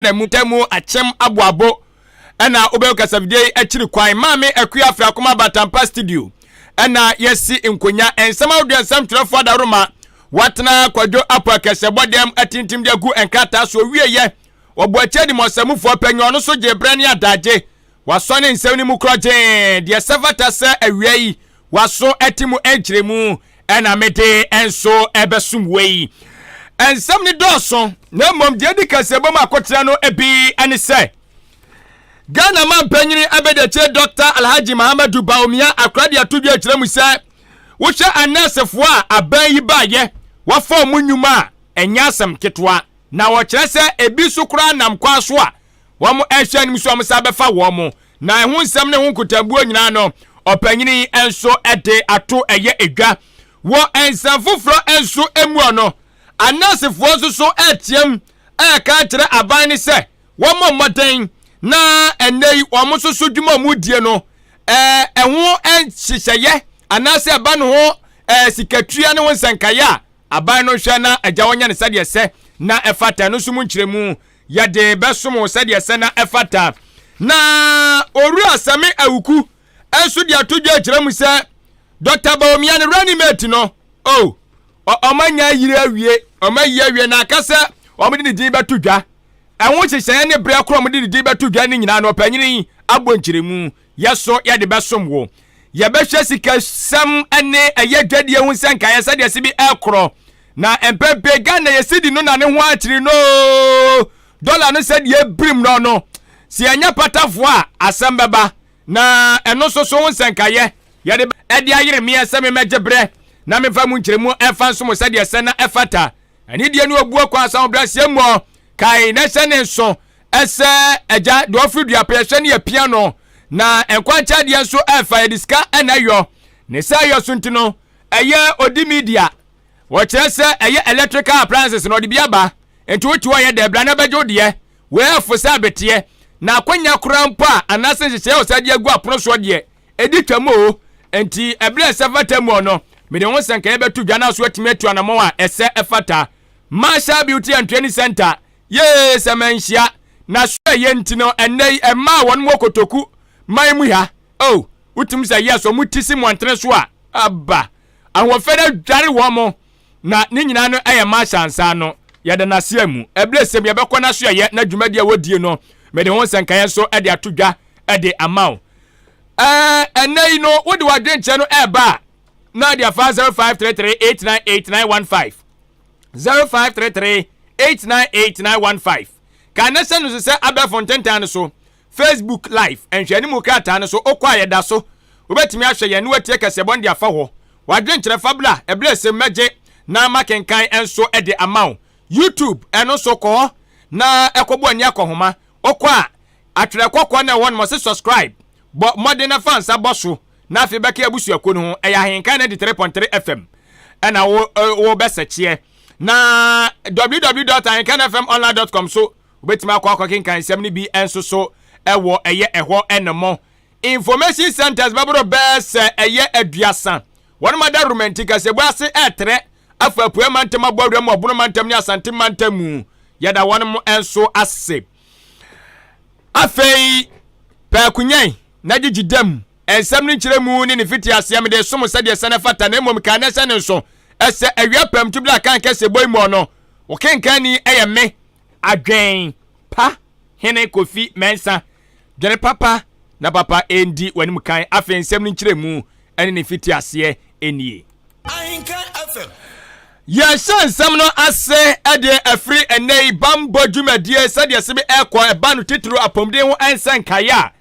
na mu ta mu akyɛm aboabo ɛna wobɛyɛ kasafidie yi akyiri kwan maame akua afra akoma batampa studio ɛna yɛsi nkonya nsɛm ahodoɔ nsɛm twerɛfoɔ adaroma watena kwadwo apɔ akɛsɛbɔ dɛm atintim de agu nkrataa so ɔwieyɛ wɔbɔ akyɛ de mɔsɛmufoɔ panyɛ ɔno so gye berɛ ne adagye wasɔ ne nsɛm no mu korɔ gyee deɛ sɛ fata sɛ awia yi waso ɛte mu ɛnkyerɛ mu ɛna mede ɛnso ɛbɛsom wei ɛnsɛm ne dɔɔso na mmom deɛ di kɛse bɛm akɔtena no ebi ɛne sɛ Ghana mampanyini abɛdɛkyɛ Dr. Alhaji Mahamadu Bawumia akorade ato dwa akyerɛ mu sɛ wohwɛ anɛɛsefoɔ a aban yi baayɛ wɔfa mu nnwuma a ɛnyɛ asɛm ketewa na wɔkyerɛ sɛ ebi so koraa nam kwan so a wɔrehwɛ anim so wɔn san bɛfa wɔn mo na ɛho nsɛm ne ho nkotabuo nyinaa no ɔpanyini nso de ato ɛyɛ edwa wɔ nsɛm foforɔ nso mu ɔno anɛsefoɔ nso so ɛteɛm ɛka kyerɛ aban ne sɛ wɔn mmɔden na ɛnɛ yi wɔn nso so dwuma wɔn die no ɛɛ ɛho nhyehyɛeɛ anaasɛ ɛba ne ho ɛɛ sikatua ne ho nsɛnkaeɛ a aban no hwɛ na agya wɔnyɛ ne sɛdeɛ sɛ na ɛfata no nso mu nkyerɛmu yɛde bɛsom wo sɛdeɛ sɛ na ɛfata. Na Owura Sami Awuku nso de ato dwa akyerɛ mu sɛ Dɔkta Bawumia ne running mate no, oh, wɔn anya ayiri awie, wɔn ayi awie na aka sɛ wɔde ne din bɛto dwa. Ɛho nhyehyɛeɛ ne berɛ korɔ wɔde ne din bɛto dwa no nyinaa no, ɔpanyin yi abɔ nkyerɛmu Yɛ so yɛde bɛsom wo. Yɛbɛhwɛ sikasɛm ne ɛyɛ dwadie ho sɛ nkaeɛ sɛdeɛ ɛse bi ɛkorɔ. Na mpɛn pii Ghana yɛ sidi no na ne ho akyere no oo, dɔla no sɛdeɛ ɛbirim no no. Sɛ yɛnyɛ patafoɔ a asɛm bɛba. Na ɛno nso so wo nsɛnkaeɛ yɛde ɛde ayere meɛ sɛ memmɛgye berɛ na memfa mu nkyerɛmu ɛmfa nso mo sɛdeɛ ɛsɛ na ɛfata. Anidie ne obuo kwan asawobrɛaseɛ muɔ. Kae na hyɛ ne nso ɛsɛ agya deɛ ɔfiri dua pɛ yɛhwɛ ne yɛpia no na nkwankyɛ adeɛ nso ɛfa yɛde sika ɛna ɛyɔ ne sɛ ɛyɔ so nti no ɛyɛ odi media wɔkyerɛ sɛ ɛyɛ electrical appliances na ɔde bi aba nti wote hɔ yɛ dɛ bra na bɛgye wodeɛ wɔɛfo sɛ abeteɛ na akwanya koraa mpo a anaasɛ nhyehyɛeɛ wɔ sɛ adeɛ agu apono soɔ deɛ ɛdi twam o nti ɛberɛ ɛsɛ fata mu ɔno mede ho sɛ nka yɛbɛto dwa no so atumi atu anammɔn a ɛsɛ ɛfata Marshall Beauty and Training Center Yee sɛ manhyia na so ɛyɛ nti no ɛnnɛ yi ɛmaa wɔn wɔ kotoku man mu ha oh wotum sɛ yes wɔn ti si mmɔntene so a aba ahoɔfɛ no adware wɔn mo na ne nyinaa no ɛyɛ marshal nsa no yɛda n'aseɛ mu ɛbile sɛm yɛbɛkɔ no so ɛyɛ na dwumadi a wɔdie no mede ho nsɛnkaeɛ nso ɛde ato dwa ɛde ama wo ɛɛ ɛnnɛ yi no wode wadwenkyerɛ no ɛɛba a na ɛde afa 0533898915 0533 898915 ka na hyɛ no so sɛ abɛɛfo ntentan no so facebook live nhwɛne mu krataa no so wokɔ a yɛda so wobɛtumi ahwɛ yɛn ne watie kɛseɛbɔ no de afa hɔ wadwenkyerɛ fabula ɛberɛ ɛsɛ mɛgye na makenkan nso de ama wo youtube ɛno nso kɔ hɔ na ɛkɔbɔ ani akɔhoma wokɔ a atwerɛ kɔkɔɔ na ɛhɔ nom ɔse subscribe bɔ mmɔden na fa nsa bɔ so Na afei bɛka abusuakuo no ho, ɛyɛ ahenka 93.3 FM ɛna wo wo bɛ sɛkyeɛ na www.ahenkanfmonline.com so wobɛtumi akɔ akɔ kenkan nsɛm no bi nso so ɛwɔ ɛyɛ ɛhɔ ɛnɛmɔ information centers bɛboro bɛɛ sɛ ɛyɛ aduasa wɔn ma da romanti kasɛbu ase ɛtrɛ afa apue mantam abɔ awura mu ɔbono mantam ne asante mantam mu yɛda wɔn mo nso ase afei pɛ akunyan na gyegye dam nsɛm no nkyerɛ mu ne ne fiti aseɛ mede som sɛdeɛ ɛsɛ no fata na mmom kan ɛsɛ no nso ɛsɛ awia pam tu bla kan kɛse bɔ imuɔ no wokenkan ni ɛyɛ me adwen pa hene kofi mɛnsa dwene papa na papa ɛndi w'anim kan afei nsɛm no nkyerɛ mu ɛne ne mfitiaseɛ nie. Ahinka FM. Yɛhyɛ nsɛm no ase deɛ ɛfiri ɛnɛ yi bammɔ dwumadie sɛdeɛ se bi ɛrekɔ ɛba no titiriw apɔmuden ho nsɛnkaeɛ a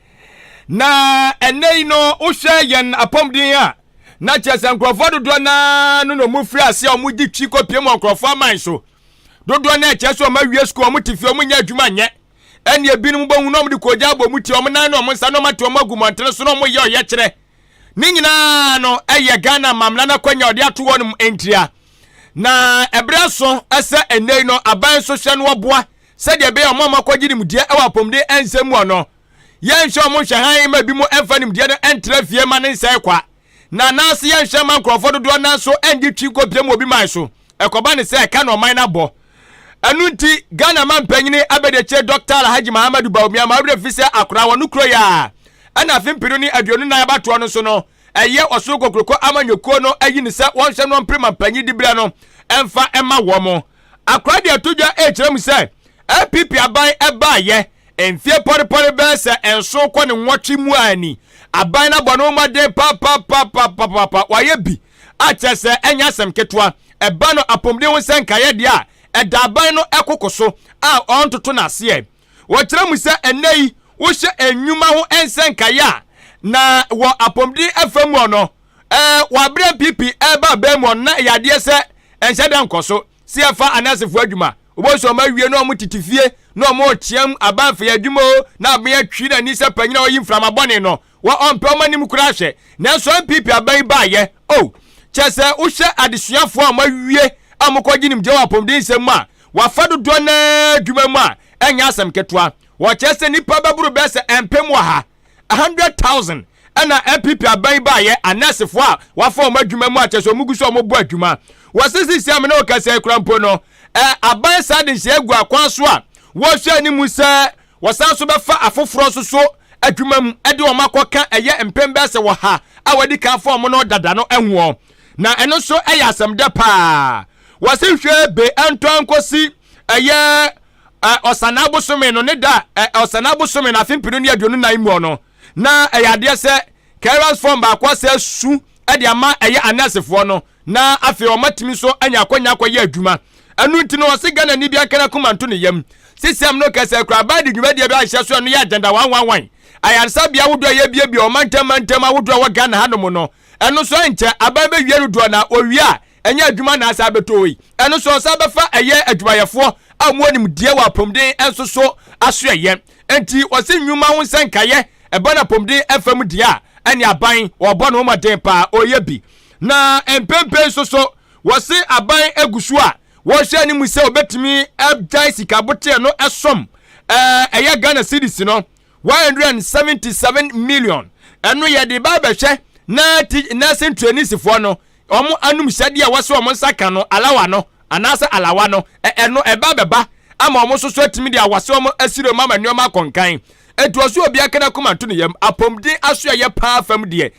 na ɛnɛ yi no wohwɛ yɛn apɔmuden a na kyerɛ sɛ nkurɔfoɔ dodoɔ no ara no na wɔfiri aseɛ a wɔgye twi kɔpie mu nkurɔfoɔ aman so dodoɔ no ɛkyerɛ sɛ wɔn awie sukuu wɔn te fie wɔn nyɛ adwuma nyɛ ɛne ebinom bɔhu na wɔde kɔgya abɔ wɔn ti wɔn nan ne wɔn nsa na wɔn ate wɔn agu mmɔntene so na wɔyɛ ɔyɛkyerɛ ne nyinaa no yɛ ghana mamla no akwanya ɔde ato hɔ nom ntia na ɛberɛ so sɛ ɛnnɛi no aban nso hyɛ no ɔboa sɛdeɛ ɛbɛyɛ ɔma ɔma kɔgye nimdeɛ wɔ apɔmuden ɛnsɛm mu ɔno yɛnhwɛ ɔmo nhwɛ han ma bi mu ɛmfa nimdeɛ no ɛntra fie ma ne nsɛe kwa na anaase yɛnhwɛ ma nkurɔfoɔ dodoɔ nanso ɛngye twi nkɔpie mu obi man so ɛkɔba ne sɛ ɛka na ɔman no abɔ ɛno nti ghana ma mpanyini abɛdekyire dɔkta alhaji mahamadu baumia ma werɛ fi sɛ akora wɔ no kuro yɛ a ɛna afe mpenu ne aduonu nan abatoɔ no so no ɛyɛ ɔsoro kokuroko amanyɔkuo no ayi no sɛ wɔnhwɛ no mpere ma mpanyin diberɛ no ɛmfa ɛma wɔn mo akora de ato dwa ɛkyerɛ mu sɛ app aban ɛbaayɛ mfie pɔrepɔre bɛɛ sɛ ɛnso kɔ ne nwɔtwe mu a ani aban no abɔ no mmɔden papapapapapa wayɛ bi a kyerɛ sɛ ɛnyɛ asɛm ketewa. Ɛba no apɔmuden ho sɛ nkaeɛ deɛ a ɛda aban no koko so a ɔntoto no ase ɛ. Wɔkyerɛ mu sɛ ɛnnɛ yi wohyɛ nnwuma ho nsɛnkaeɛ a, na wɔ apɔmuden afa mu ɔ no ɛɛ wɔ aberɛ NPP ɛreba aban mu ɔ no na ɛyɛ adeɛ sɛ ɛnhyɛ da nkɔ so. Se ɛfa anursefoɔ adwuma wobɛhu sɛ wɔn awie na wɔn tete fie na wɔn reteam aban fei adwuma o na aban atwi n'ani sɛ panyin a ɔyi mframa bɔne no Wɔ ɔmpɛ wɔn anim koraa hwɛ. Nanso NPP aban yi baayɛ oh. Kyerɛ sɛ wohwɛ adesuafoɔ a wɔawie a wɔkɔ gye nimgyeɛ wɔ apɔmuden nsɛm mu a, wɔafa dodoɔ no ara adwuma mu a, ɛnyɛ asɛm ketewa. Wɔkyerɛ sɛ nnipa bɛboro bɛyɛ sɛ mpem ɔha, 100,000, na NPP aban yi baayɛ, anɛɛsefoɔ a wɔafa wɔn adwuma mu a, kyerɛ sɛ wɔgu so a wɔbɔ adwuma. Wɔse seesei a me ne wo kasa yi koraa mpo no, eh, aban saa de nhyehyɛeɛ agu akwan so a wɔrehwɛ anim sɛ Wɔsan nso bɛfa afoforɔ nso so adwuma mu de wɔn akɔka ɛyɛ mpem bɛyɛ sɛ ɔha a wɔadi kan afa wɔn no dada no ho. Na ɛno nso yɛ asɛmdɛ paa. Wɔse hwee be ɛntɔ nkɔsi ɛyɛ ɔsanaa bosome no ne da a ɔsanaa bosome no afe mpenu ne aduonu nan mu no na ɛyɛ adeɛ sɛ clearance form baako asɛ su de ama ɛyɛ anɛɛsefoɔ no Na afei ɔmatumi nso anya akwanya akɔyɛ adwuma. Ɛno nti no, ɔse Ghanani bi anka n'akoma nto ne yam. Sisiam no kɛse koraa baa de dwumadie bi ahyɛ so a ɛno yɛ agyandawanwanwan. Ayaresabea ahodoɔ a yɛabuebue ɔmantam mantam ahodoɔ a ɛwɔ Ghana hanom no, ɛno nso ɛnkyɛ aban bɛwie no doɔ na wɔwie a ɛnyɛ adwuma na asan abɛtɔ hɔ yi. Ɛno nso ɔsan bɛfa ɛyɛ adwumayɛfoɔ a wɔwɔ nimdeɛ wɔ apɔmuden nso so asoɛyɛ. Enti ɔse nnwuma ho nsɛnkaeɛ ɛba no apɔmuden fa mu deɛ a, ɛneɛ aban ɔrebɔ ne ho mmɔden paa, ɔreyɛ bi. Na mprempren nso so, wɔse aban gu so a wɔrehwɛ anim sɛ wɔbɛtumi agyae sika boteɛ no som. Ɛyɛ Ghana cedis no 177 million. Ɛno yɛde ba abɛhwɛ na nursing traineesfoɔ no wɔn anum hyɛdeɛ a wɔse wɔn nsa ka no alawa no anaasɛ alawa no ɛno ɛba bɛba ama wɔn nso so atumi deɛ wɔse wɔn asire mu ama nneɛma akɔnkan. Ɛtoɔ so obi akana kuma nto ne yam apɔmuden asoɛyɛ paa fam deɛ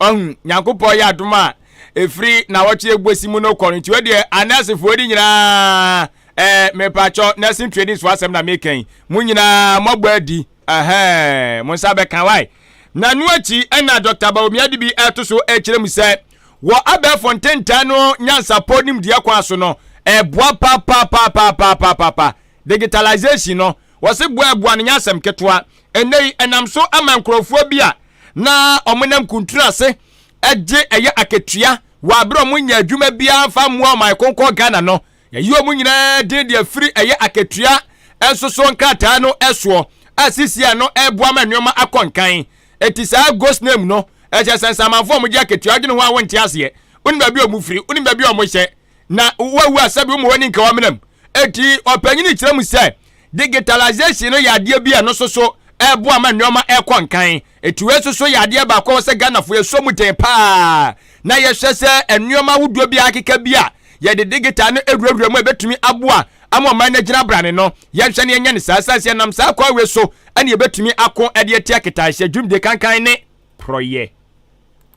Ɔhun, Nyankopɔn yɛ adom a ɛfiri nawɔtwe ɛguasi mu no kɔ no, nti wɔ deɛ anɛɛsefoɔ de nyinaa, ɛɛ, mepakyɔ, nursing training so asɛm na meka yi, mo nyinaa moabɔ adi, ɛhɛɛ, mo nsa bɛka, wai? Na ɛno akyi ɛna Dɔkta Bawumia de bi ɛto so ɛkyerɛ mu sɛ, wɔ abɛɛfo ntentan no nyansapɔ nimdeɛ kwan so no, ɛboa papaapapaapaapa Digitalisation no, wɔse boaboa no nyɛ asɛm ketewa. Ɛnnɛ yi, ɛnam so ama nkurɔfoɔ bi a na wɔnam kuntunu ase gye ɛyɛ akatua wɔ abere a wɔnyɛ adwuma biara mfa mmoa ɔman konkɔn Ghana no, yɛyi wɔn nyinaa din de afiri ɛyɛ akatua nsosoɔ nkrataa no soɔ a sisi ano ɛreboa ma nneɛma akɔ nkan. Enti saa ghost name no, ɛkyerɛ sɛ nsamanfoɔ a wɔgye akatua, wodwene ho a wonte aseɛ, wonim baabi a wɔfiri, wonim baabi a wɔhyɛ, na wawu a sɛbi woma w'ani nka w'amenam eti ɔpanyini kyerɛ mu sɛ digitalization no yɛ adeɛ bi a ɛno nso so ɛboa ma nneɛma ɛkɔ nkan eti wei nso so yɛ adeɛ baako a wɔsɛ Ghanafoɔ yɛsɔ mu den paa na yɛhwɛ sɛ nneɛma ahodoɔ bi akeka bi a yɛde digital no awurawura mu a ɛbɛtumi aboa ama ɔman no agyina brane no yɛnhwɛ no yɛnyɛ no saa sane sɛ yɛnam saa kwan wei so ɛne yɛbɛtumi ako ɛde atia ketaehyɛ dwumdie kankan ne porɔyɛ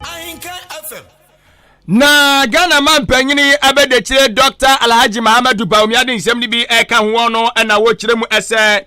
Ahenkan FM. Na Ghana manpanyin yi abɛdakyire Dr. Alhaji Mahamadu Bawumia de nsɛm no bi ɛka ho wɔn no na wɔkyerɛ mu ɛsɛ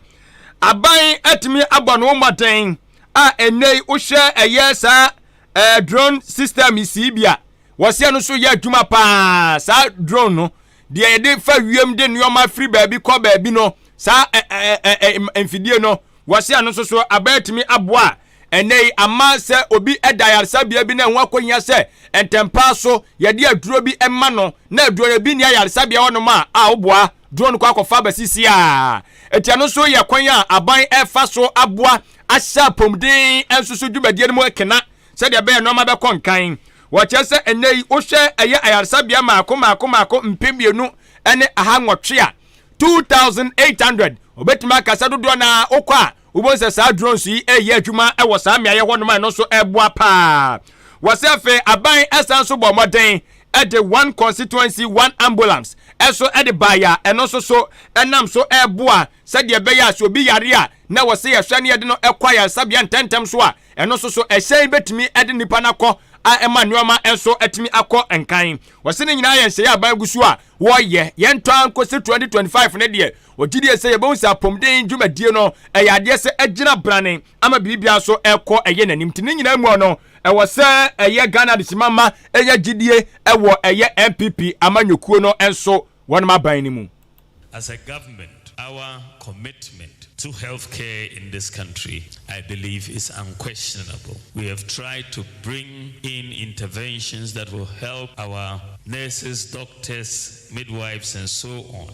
aban atumi abɔ no mmɔden a ɛnɛ yi wohwɛ ɛyɛ saa ɛɛ drone system yi sii bi a wɔsi ɛno so yɛ adwuma paa saa drone no deɛ yɛde fa wiem de nneɛma firi baabi kɔ baabi no saa ɛɛ ɛɛ mfidie no wɔsi ɛno nso so aban atumi aboa Ɛnnɛ yi, ama sɛ obi da ayaresabea bi na ɛho akɔhia sɛ ntɛmpa so yɛde aduro bi ma no na aduro no bi nni ayaresabea hɔnom a, a woboa duro no kɔ akɔfa aba sisi a, ɛti ɛno nso yɛ kwan a aban ɛfa so aboa ahyɛ apɔmuden nso so dwumadie no mu kena sɛdeɛ ɛbɛyɛ nneɛma bɛkɔ nkan. Wɔkyerɛ sɛ ɛnnɛ yi wohwɛ ɛyɛ ayaresabea mmaako mmaako mmaako mpem mmienu ne aha nwɔtwe a, 2800, wɔbɛtumi aka sɛ dodoɔ no ara wokɔ a, Wobɛhu sɛ saa drones yi reyɛ adwuma wɔ saa mmeaeɛ hɔnom a ɛno nso ɛreboa paa. Wɔsɛ afei aban ɛsan nso bɔ mmɔden de one constituency one ambulance ɛso de baeɛ a ɛno nso so ɛnam so ɛreboa sɛdeɛ ɛbɛyɛ a sɛ obi yare a na wɔsɛ yɛhwɛ ne yɛde no ɛkɔ ayaresabea ntɛntɛm so a ɛno nso so ɛhyɛn bɛtumi de nnipa no akɔ a ɛma nneɛma nso atumi akɔ nkan. Wɔsɛ ne nyinaa yɛ nhyɛeɛ aban gu so a wɔyɛ yɛntɔ ankosi 2025 ne deɛ Wɔgye die sɛ yɛbɛhu sɛ apɔmuden dwumadie no ɛyɛ adeɛ sɛ agyina brane ama biribiara so ɛkɔ ɛyɛ n'anim nti ne nyinaa mu no ɛwɔ sɛ ɛyɛ Ghana adehyema ma ɛnya gyidie ɛwɔ ɛyɛ NPP amanyɔkuo no nso wɔnom aban no mu. As a government our commitment to health care in this country I believe is unquestionable. We have tried to bring in interventions that will help our nurses, doctors, midwives and so on.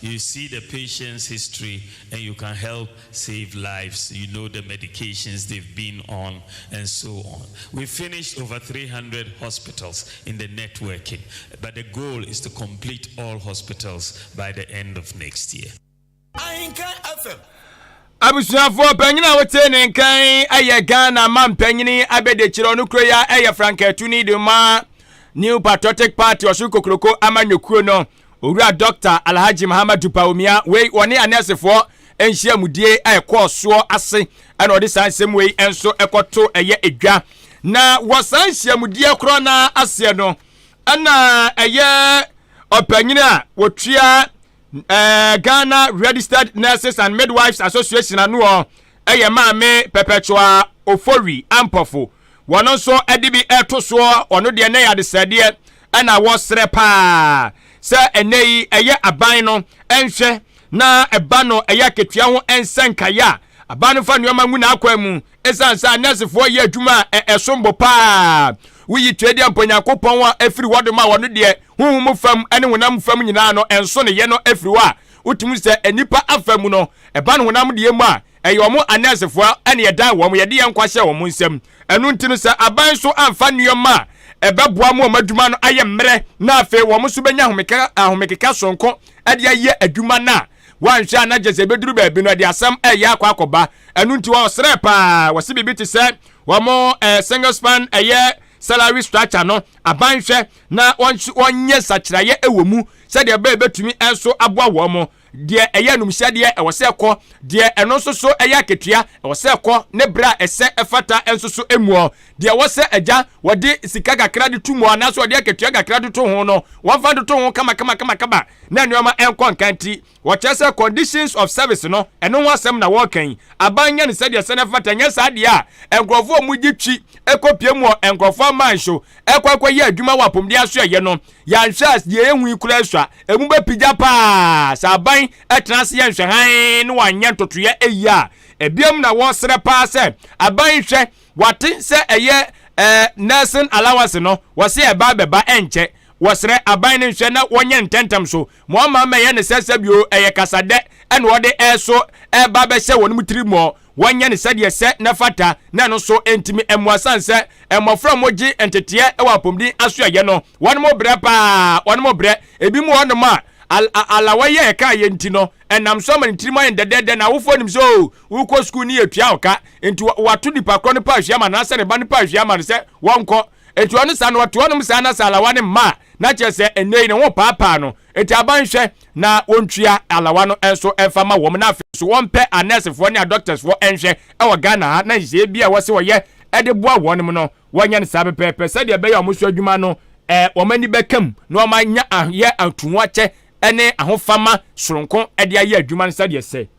You see the patient's history and you can help save lives, you know the medications they've been on and so on. We've finished over three hundred hospitals in the networking but the goal is to complete all hospitals by the end of next year. Ahinka FM. abusuafoɔ panyin a wote ne nkan ɛyɛ ghana ma mpanyini abɛdekyerɛ ɔno kuro yi a ɛyɛ frankaatuni de ma new patriotic party ɔsoro kokoroko amanyɔkuo no Owura Dɔkta Alhaji Mahamadu Bawumia wei wɔne anɛɛsefoɔ nhyiamudie a ɛkɔɔ soɔ ase ɛna ɔde saa nsɛm wei nso ɛkɔto ɛyɛ edwa na wɔ saa nhyiamudie korɔ no aseɛ no ɛna ɛyɛ ɔpanyin a wɔtua ɛɛ Ghana Registered Nurses and Midwives Association anoɔ yɛ maame Perpetua Ofori Ampofo, wɔno nso de bi reto soɔ, wɔno deɛ na yɛ adesrɛdeɛ na wɔsrɛ paa sɛ ɛnɛ yi ɛyɛ aban no nhwɛ na ɛba no ɛyɛ akatua ho nsɛnkaeɛ a aban no fa nneɛma ngu n'akwan mu ɛsiane sɛ nɛɛsefoɔ yɛ adwuma a ɛsombo paa woyi tuadeɛ mpo Nyankopɔn a ɛfiri hɔ de ma wɔno deɛ honhom fam ne honam fam nyinaa no ɛnso ne yɛ no ɛfiri hɔ a Wotumi sɛ nnipa afa mu no, ɛba no honam deɛ mu a, ɛyɛ wɔn anɛɛsefoɔ na yɛdan wɔn, yɛde yɛn nkwa hyɛ wɔn nsam. Ɛno nti no, sɛ aban nso amfa nneɛma a ɛbɛboa ma wɔn adwuma no ayɛ mmerɛ na afei wɔn nso bɛnya ahomekeka soronko de ayɛ adwuma no a, wɔanhwɛ a na gye sɛ ɛbɛduru baabi no, ɛde asɛm ɛyɛ akɔ akɔba. Ɛno nti wɔsrɛ paa, wɔse biribi te sɛ wɔn eh, single span ɛyɛ salary structure no, aban hwɛ na wɔnyɛ nsakyeraeɛ wɔ mu sɛdeɛ ɛbɛyɛ bɛtumi nso aboa wɔn mo deɛ ɛyɛ anumhyɛdeɛ ɛwɔ sɛ ɛkɔ deɛ ɛno nso so ɛyɛ akatua ɛwɔ sɛ ɛkɔ ne berɛ a ɛsɛ ɛfata nso so muɔ deɛ ɛwɔ sɛ agya wɔde sika kakra de to mu anaasɛ wɔde akatua kakra de to ho no wɔmfa de to ho kama kama kama kama na nneɛma ɛnkɔ nkanti Wɔkyerɛ sɛ conditions of service no, ɛno ho asɛm na wɔreka yi. Aban nyɛ no sɛdeɛ ɛsɛ na ɛfata, ɛnyɛ saa deɛ a, nkorɔfoɔ a wɔgye twi kɔpie mu wɔ nkorɔfoɔ aman so kɔ akɔyɛ adwuma wɔ apomuden ase a ɛyɛ no. Yɛanhwɛ a, deɛ yɛhu yi koraa sua. Ɛmu bɛpigya pa ara sɛ aban tena ase yɛ nhwɛhan na wɔanyɛ ntotoeɛ yie a. Ɛbiam na wɔsrɛ pa ara sɛ aban nhwɛ, wɔate sɛ ɛyɛ eh, nursing allowance no, wɔse ɛba abɛba ɛnkyɛ. Wɔsrɛ aban no nhwɛ na wɔnyɛ ntɛntɛm so Ma ɔmma mmɛyɛ no sɛ sɛ bio ɛyɛ kasadɛ na ɔde ɛso reba abɛhyɛ wɔn tirim mɔ, wɔnyɛ no sɛdeɛ ɛsɛ na ɛfata, na ɛno nso ntumi mmoa sane sɛ mmɔfra a wɔgye nteteɛ wɔ apɔmuden asoɛeɛ no, wɔnom brɛ pa ara, wɔnom brɛ. Ebinom wɔ hɔnom a, alawai a ɛkaa yɛn nti no, ɛnam so ama ne tirim ayɛ no dɛdɛɛdɛ, na awofoɔ nim sɛ, oh, worekɔ sukuu ne yɛtua wo ka, enti wɔato nipa korɔ no paahwii ama no anaasɛ ne ba no paahwii ama no sɛ wɔnkɔ. Eti ɔno saa no ɔte hɔnom saa na sɛ alawa no mma a, na kyerɛ sɛ ɛnnɛ yi ne ho paapaa no. Enti aban nhwɛ na wɔntua alawa no nso mfa mma wɔn na afei nso wɔmpɛ anɛɛsefoɔ ne adɔktɛsfoɔ nhwɛ wɔ Ghana ha na nhyehyɛeɛ bi a wɔse wɔyɛ de boa wɔnom no wɔnyɛ no saa pɛpɛɛpɛ sɛdeɛ ɛbɛyɛ a wɔn so adwuma no wɔn ani bɛka mu na wɔn anya ayɛ atuu akyɛ ne ahofama soronko de ayɛ adwuma no sɛdeɛ ɛsɛ.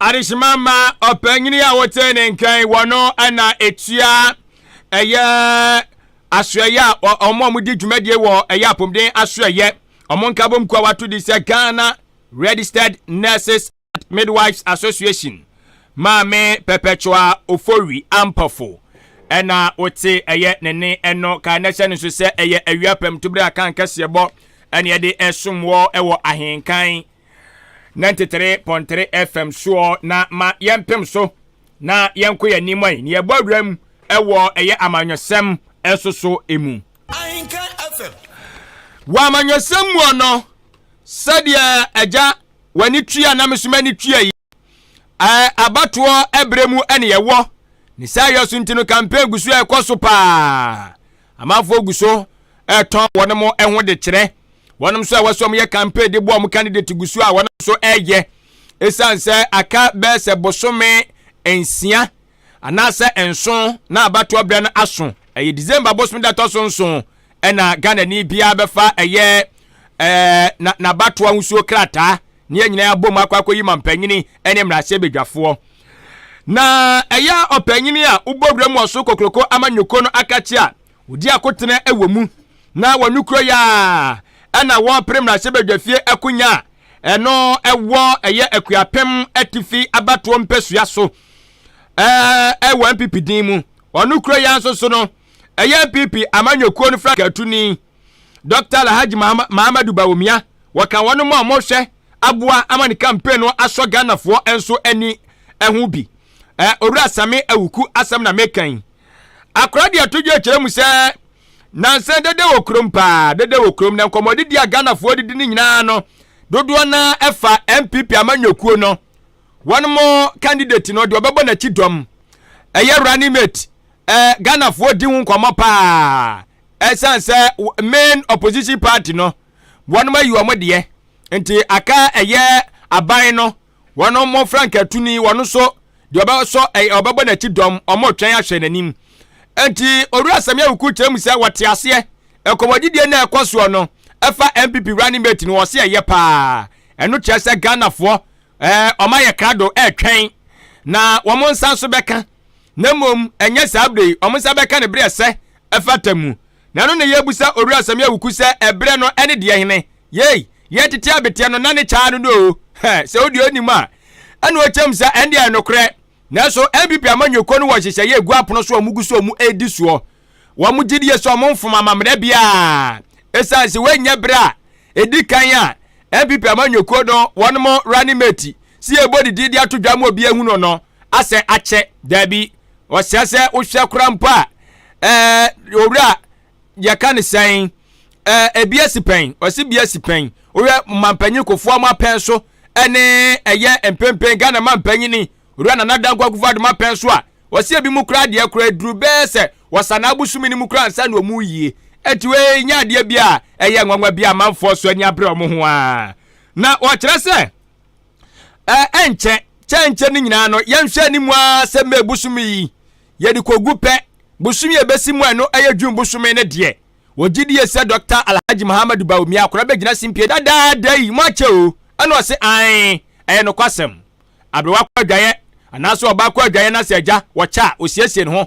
adehyema ma ɔpanyin a wɔte ne nkan wɔ no na etua ɛyɛ asoɛyɛ a wɔn a wɔdi dwumadie wɔ ɛyɛ apɔmuden asoɛyɛ wɔn nkabom kuo a wato di sɛ ghana registered nurses and midwives association maame perpetua ofori ampɔfo ɛna wote ɛyɛ ne ne ɛno ka na ɛhyɛ no nso sɛ ɛyɛ awia pam tubere a kan kɛseɛ bɔ ɛne ɛde ɛsom wɔ ɛwɔ ahenkan 93.3 FM soɔ na ma yɛmpem so na yɛnko yɛn anim ɔe na yɛbɔ awura mu ɛwɔ ɛyɛ amanyɔsɛm ɛso so emu. Ahinka FM. Wɔ amanyɔsɛm mu ɔno sɛdeɛ agya w'ani tua na mesoma ani tua yi ɛɛ abatoɔ ɛbrɛ mu ɛne yɛwɔ ne saa yɛ so nti no campaign gu so ɛkɔ so paa. Amanfoɔ gu so retɔn wɔn mo ho de kyerɛ. Wɔn nso a wɔsɛ wɔn yɛ campaign de boa wɔn candidate gu so a wɔn nso reyɛ. Esiane sɛ aka bɛyɛ sɛ bosome nsia anaasɛ nson na abatoɔ berɛ no aso, ɛyɛ December bosome da ɛtɔ so nson ɛna Ghanani biara bɛfa ɛyɛ ɛɛ na n'abatoɔ ahosuo krataa. ne yɛn nyinaa abom akɔ akɔyi ma mpanyini ne mmarahyɛbadwafoɔ. Na ɛyɛ a ɔpanyini a wobɔ wura mu ɔso kokoroko ama nyoko no aka kye a ɔdi akotena wɔ mu na wɔno kuro yɛ a ɛna wɔpere mmarahyɛbadwafie akonya a ɛno ɛwɔ ɛyɛ Akuapem atifi abatoɔ mpasua so ɛwɔ NPP din mu. Ɔno kuro yɛ nso so no ɛyɛ NPP amanyɔkuo no frankatuni. Dɔkta Alhaji Mahamadou Bawumia, wɔka wɔn a wɔhwɛ aboa ama ne campaign no asɔ Ghanafoɔ nso ani ho bi. Eh, Owura Same Awuku asɛm na meka yi. Akora deɛ to dwa kyerɛ mu sɛ nansa dede wɔ kurom paa, dede wɔ kurom na nkɔmmɔdidi a Ghanafoɔ didi no nyinaa no dodoɔ no ɛfa NPP amanyɔkuo no wɔn mo candidate no deɛ ɔbɛbɔ n'akyi dɔm ɛyɛ running mate eh, Ghanafoɔ di ho nkɔmmɔ paa. ɛsiane sɛ main opposition party no wɔn ayi wɔn deɛ nti aka ɛyɛ aban no wɔn mo frankatuni wɔn nso deɛ ɔbɛsɔ ɛyɛ ɔbɛbɔ n'akyi dɔm wɔn retwɛn ahwɛ n'anim nti owura sɛm yɛ wuku kyerɛ mu sɛ wɔte aseɛ ɛkɔmɔdidie na ɛkɔ soɔ no ɛfa npp running mate no wɔsi ɛyɛ paa ɛno kyerɛ sɛ ghanafoɔ ɛɛ wɔn ayɛ krado ɛretwɛn na wɔn nsa nso bɛka na mmom ɛnyɛ saa bere wɔn nsa bɛka ne bere ɛsɛ ɛfata mu. Na ɛno na yɛrebisa Owura Samia Awuku sɛ ɛberɛ no ɛne deɛ hene? Yei, yɛ tete abeteɛ no na ne kyaa no no oo. Hɛ, sɛ wodeɛ ɔnnim a, ɛna ɔkyɛm sa, ɛndeɛ ɛyɛ nokorɛ. Nanso NPP amanyɔkuo no wɔ nhyehyɛeɛ ɛgu apono so a wɔgu so a wɔredi soɔ. Wɔn gyedie sɛ wɔn mfom amammerɛ biara. Ɛsiane sɛ wɔnyɛ berɛ a ɛdi kan a NPP amanyɔkuo no wɔn mo running mate si ɛbɔ ne din de ato dwa ma obi ahunu no asɛ akyɛ. Daabi, ɔsɛ sɛ wohwɛ kora mpo a ɛɛ owura yɛka ne sɛn ɛɛ ebi asi pɛn ɔsi bi asi pɛn wohwɛ mampanyin kofoɔ ɔmo apɛn so ɛne ɛyɛ mpempen ghana mampanyin ni owura nana danko akufo adum apɛn so a ɔsi ebi mu kora adeɛ kora eduru bɛɛ sɛ wɔsa na abosomi ne mu kora nsa na ɔmo yie eti wei nyɛ adeɛ bi a ɛyɛ nwanwa bi a amanfoɔ so ani abere ɔmo ho a na ɔkyerɛ sɛ. ɛnkyɛ kyɛnkyɛ no nyinaa no yɛnhwɛ anim ara sɛ mmɛ bosom yi yɛde kɔgu pɛ bosom yɛ bɛsi mu a ɛno ɛyɛ dwun bosom no deɛ wɔgye die sɛ dɔkta alhaji muhammadu baomi akora bɛgyina simpie dadaada yi mo akyɛ o ɛna ɔse an ɛyɛ nokwasɛm aberewa kɔ adwaeɛ anaasɛ ɔbaa kɔ adwaeɛ na sɛ agya wɔkyɛ a ɔsiesie ne ho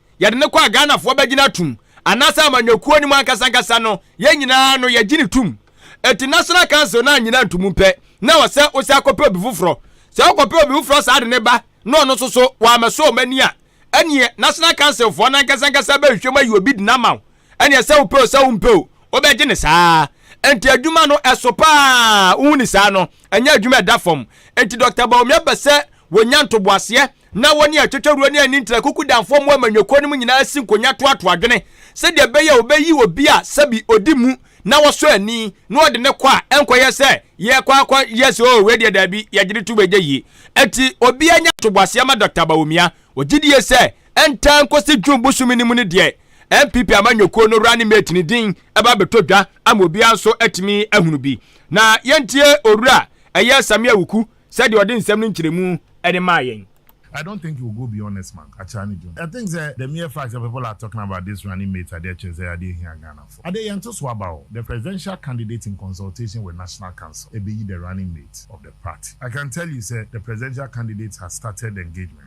yɛde no kɔ a Ghanafoɔ bɛgyina atum anaasɛ amanyɔkuo no mu ankasa ankasa no yɛn nyinaa no yɛgye no tum Enti National Council no annyina antomu pɛ na ɛwɔ sɛ wosan akɔpɛ obi foforɔ Sɛ wokɔpɛ obi foforɔ saa de no ba na ɔno nso so wammɛsɔ wɔn ani a ɛneɛ National Council foɔ no ankasa ankasa bɛhwehwɛ mu ayi obi de no ama wo Ɛneɛ sɛ wopɛ o sɛ wompɛ o wobɛgye no saa Enti adwuma no ɛso pa ara wohu ne saa no ɛnyɛ adwuma ɛda fam Enti Doctor Bawumia pɛ sɛ wɔnya ntoboaseɛ Ná wɔne atwetwawuro ne ani ntra kuku damfoɔ mmoa ma nnwakuo no mu nyinaa si nkonya toatoa adwene sɛdeɛ ɛbɛyɛ a wɔbɛyi obi a sɛbi ɔdi mu na wɔsɔ ani na wɔde no kɔ a ɛnkɔyɛ sɛ yɛrekɔ akɔyɛ sɛ oo wei deɛ daabi, yɛgye no tom ɛnyɛ yie. Enti obiara nya ntoboaseɛ ma Dɔkta Bawumia. Ɔgye die sɛ ɛntaa nkɔsi June bosome no mu no deɛ NPP ama nnwakuo no running mate no din ɛba abɛtɔ dwa ama obiara nso atumi ahunu bi. Na yɛntie Owura ɛyɛ Sammy Awuku Sɛdeɛ ɔde nsɛm no nkyerɛmu de maa yɛn. I don't think it will go beyond next month, Akyea ne June. I think sɛ the mere fact sɛ people are talking about this running mate adeɛ kyerɛ sɛ adeɛ hia Ghanafoɔ. Adeɛ yɛn ntoso aba o, the presidential candidate in consultation with National Council ɛbɛyi the running mate of the party. I can tell you sɛ the presidential candidate has started the engagement.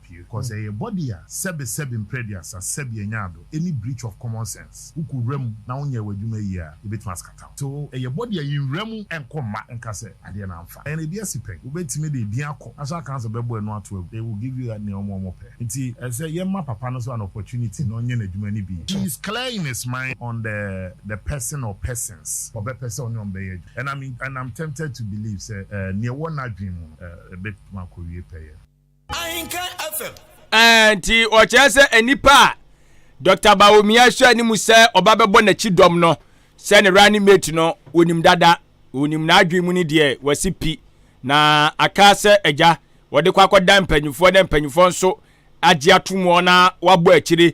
Pii kɔ sɛ yɛ body a sɛbe sɛbe mprɛduasa sɛbe ɛnyɛ ado ɛni breach of common sense wo kɔ wura mu na wo nyɛ w'adwuma yie a yɛbɛtumi askata wo so ɛyɛ body a yɛ nwura mu ɛnkɔ mma nka sɛ adeɛ no amfa ɛyɛ na ɛbi asi pɛn wo bɛtumi de ɛbi akɔ national council bɛbɔ ɛno ato agu they will give you nea ɔmo ɔmo pɛ nti ɛsɛ yɛ mma papa no so an opportunity na ɔnyɛ n'adwuma no bi he is clear in his mind on the the person or persons ɔbɛpɛ sɛ ɔne ɔmo bɛyɛ adwuma and I'm in and I'm tempted to believe sɛ eh nea ɛwɔ n'adwene mu no eh ɛbɛtumi akɔ wie pɛyɛ. nti ɔkyerɛ sɛ nnipa a dr baomia hyɛ ne mu sɛ ɔba bɛbɔ n'akyi dɔm no sɛ ne running mate no wɔnim dada wɔnim n'adwene mu no deɛ wɔasi pi na aka sɛ agya wɔde kɔ akɔda mpanimfoɔ na mpanimfoɔ nso agye atom wɔn na wɔabɔ akyire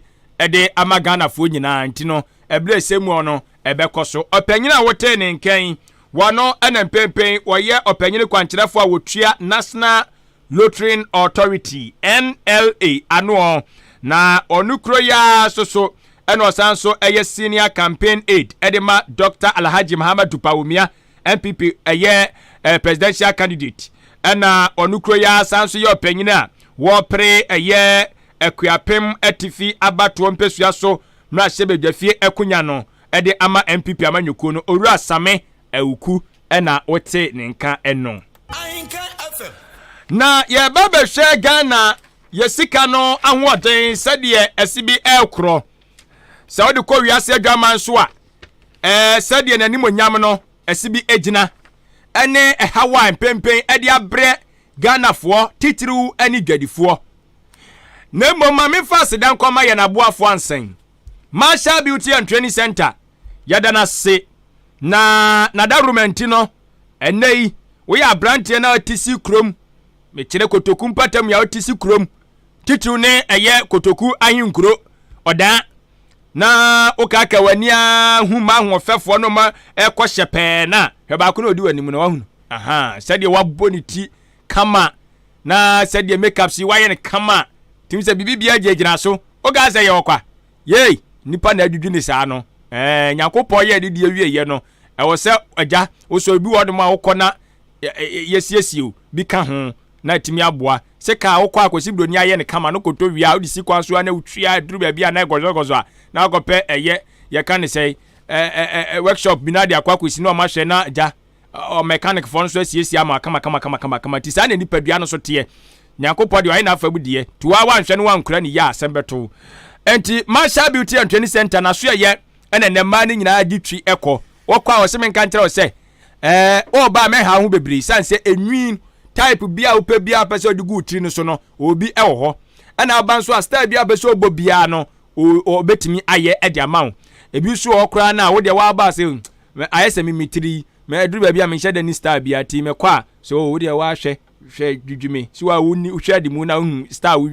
de ama ghanafoɔ nyinaa nti no ɛberɛ sɛ mu no ɛbɛkɔ so ɔpanyin a wotee ne nkɛn wɔno ɛna mpɛmpɛn wɔyɛ ɔpanyin kwankyerɛfoɔ a wɔtua national Lutheran Authority, NLA, ano ɔ, na ɔno kuro yi ara nso so na ɔsan nso yɛ senior campaign aide de ma Dr. Alhaji Muhammadu Bawumia, NPP, ɛyɛ eh, presidential candidate. Ɛna ɔno kuro yi ara san nso yɛ ɔpanyin a wɔpere ɛyɛ Akuapem Atifi abatoɔ mpesua so mmarahyɛbadwafie akunya no de ama NPP amanyɔkuo no, Owura Same Awuku ɛna wote ne nka ɛno. Na yɛba bɛhwɛ Ghana yɛ sika no ahoɔden sɛdeɛ ɛsi bi ɛrekorɔ sɛ wode kɔ wiase adwaman so a ɛɛ sɛdeɛ n'animonyam no ɛsi bi egyina ɛne ɛhaw a mpempen ɛde abrɛ Ghanafoɔ titiriw ɛne dwadifoɔ na mmom ma mefa aseda nkɔma yɛn aboafoɔ ansɛn Marshall Beauty and Training Center yɛda no ase na n'adaworoma nti no ɛnɛ yi woyɛ aberanteɛ na ɔte si kurom mekyerɛ kotoku mpatamu a ɔte si kurom titiriw ne ɛyɛ kotoku ahenkuro ɔdan na wokaaka w'ani a hu ma ahoɔfɛfoɔ no ma ɛkɔ hyɛ pɛɛ no a hwɛ baako na ɔdi w'anim no wahunu aha sɛdeɛ wabɔ ne ti kama Na sɛdeɛ makeup si wayɛ no kama a, tumi sɛ biribi biara gyinagyina so. Wokaa sɛ yɛ ɔkwa? Yei, nnipa na adwidwi ne saa no. Ɛɛ, Nyankopɔn yɛɛ ne deɛ wieɛ no, ɛwɔ sɛ Agya, wosɔ ebi wɔ hɔnom a wokɔ na yɛsiesie o, bi ka ho, na atumi aboa. Sɛ kaa a wokɔ a Kwasi Broni ayɛ no kama no kɔtɔ wie a, wode si kwan so a na wotwi a ɛduru baabi a na ɛgɔzɔgɔzɔ a, na wakɔpɛ ɛyɛ, yɛka no sɛn, ɛɛ, ɛɛ, workshop bi na de akɔ akɔsi na wɔahwɛ na Agya, Ɔ mɛkanekfoɔ no nso asiesie ama kamakamakamakamakama. Nti saa na nipadua no nso teɛ. Nyankopɔn deɛ ɔyɛ n'afam deɛ. Nti wo ara woanhwɛ na woankura ne yie a, asɛm bɛto wo. Nti Marshall Beauty and Training Center n'aso ɛyɛ ɛna nnɛ mmaa no nyinaa gye twi kɔ. Wɔkɔ a wɔse menka nkyerɛ wo sɛ ɛɛ ɔɔba a mɛha ho bebree sane sɛ enwi type bi a wopɛ bi a pɛ sɛ ɔde gu wo tiri no so no obi ɛwɔ hɔ. Ɛna aba nso a style bi a pɛ sɛ ɔbɔ biara no ɔbɛtumi ayɛ ɛde ama wo. Ebi nso wɔ hɔ koraa no a wo deɛ woaba a sɛ Me ayɛ sɛ me me tiri yi me aduru baabi a menhyɛ da ni star bia tii me kɔ a sɛ oo wodeɛ waa hwɛ hwɛ dwidwi me si waa wo ni wohwɛ adi mu na wohu star wo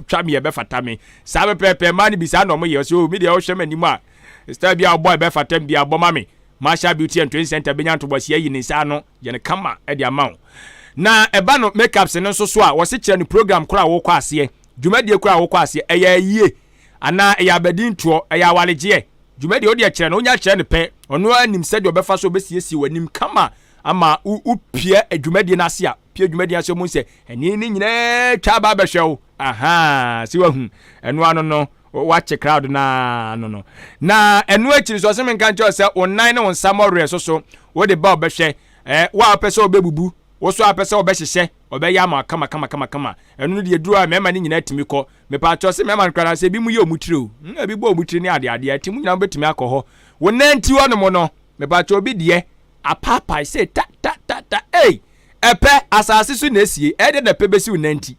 twa me ɛbɛ fata me saa pɛpɛɛpɛ mmaa no bi saa na ɔmo yɛ ɔsɛ oo me deɛ wohwɛ m'anim a star bi a ɔbɔ ɛbɛ fata me bi abɔ ma me Marshall Beauty and Twin Center bɛnya ntobɔsi ayi ne nsa ano yɛ no kama ɛde ama wo na ɛba no makeups no nso so a wɔse kyerɛ no program koro a wokɔ aseɛ dwumadie koro a wokɔ aseɛ ɛyɛ ayie Anaa ɛyɛ abadintoɔ, ɛyɛ awaregyeɛ, dwuma deɛ wodeɛ kyerɛ no, wonya kyerɛ no pɛ, ɔno ara nim sɛdeɛ ɔbɛfa so ɔbɛsiesie w'anim kama ama wo pia dwumadie no ase a, pia dwumadie no ase ɔmu sɛ ɛne ne nyinaa twa aba abɛhwɛ wo, ahaa, sɛ wahu, ɛno ano no, wakye crowd no ara no no. Na ɛno akyiri nso, ɔse me nka nkyerɛ wo sɛ wo nan ne wo nsa mmɔwerɛ so so, wode ba ɔbɛhwɛ, eh, wo a wopɛ sɛ ɔbɛbubu, wo so a wopɛ sɛ ɔbɛhyehyɛ, ɔbɛyɛ ama wo kama kama kama kama. Ɛno no deɛ ɛduru a mmarima no nyinaa tumi kɔ. Mepaakyɛw se mmarima no koraa anaasɛ ebinom yɛ wɔn tiri o. Hmm, ebi bɔ wɔn tiri ne ade adeɛ nti mo nyinaa mobɛtumi akɔ hɔ. Wo nanti hɔ nom no, mepaakyɛw obi deɛ apaapae sei ta ta ta ta ei! Ɛpɛ, asaase so na esie, ɛyɛ dɛ na ɛpɛ bɛsi wo nanti.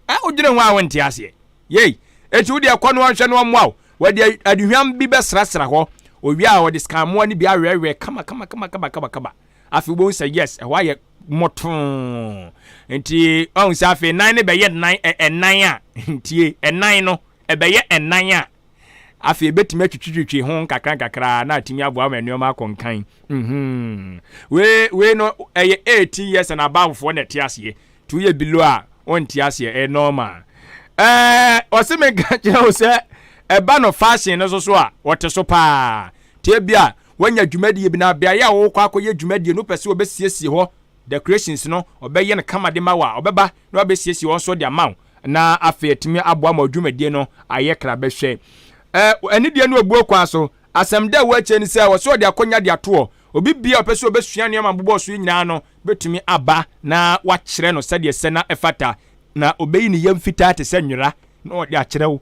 Ɛ, wodwene ho a wonte aseɛ. Yei! Enti wodeɛ kɔ no ɔnhwɛ no ɔmmoa wo. Wɔde aduhwam bi bɛsrasra hɔ. Owie a wɔde sikamoa no bi awɛɛwɛɛ kama kama kama kama kama kama. afei wobɛhu sɛ yes ɛhɔ ayɛ mɔtoo nti ɔhu sɛ afei nan no bɛyɛ nan ɛnan a ntie ɛnan no ɛbɛyɛ ɛnan a afei bɛtumi atwitwitwitwi ho nkakra nkakra na atumi aboa ma nneɛma akɔ nkan mhm. wei wei no ɛyɛ 18 years and abovefoɔ na ɛte aseɛ nti woyɛ below a ɔnte aseɛ ɛyɛ normal ɛɛ ɔse menka kyerɛ wo sɛ ɛba no fashion no so so a ɔte so paa nti ebia Wanya dwumadie bi na beaeɛ a ɔrekɔ akɔyɛ dwumadie no wopɛ sɛ ɔbɛsiesie hɔ decorations no ɔbɛyɛ no kama de ma wo a ɔbɛba na wabɛsiesie hɔ nso de ama wo na afei atumi aboa ma dwumadie no ayɛ kra bɛhwɛ eh, ɛne deɛ no ɛbuo kwan so asɛm da ɛwɔ akyire ne sɛ ɔsɛ ɔde akɔnya de atoɔ obi bia ɔpɛ sɛ ɔbɛsua nneɛma bobɔ so yi nyinaa no bɛtumi aba na wakyerɛ no sɛdeɛ sɛ na ɛfata na ɔbɛyi ne yam fitaa te sɛ nwera na ɔde akyerɛ wo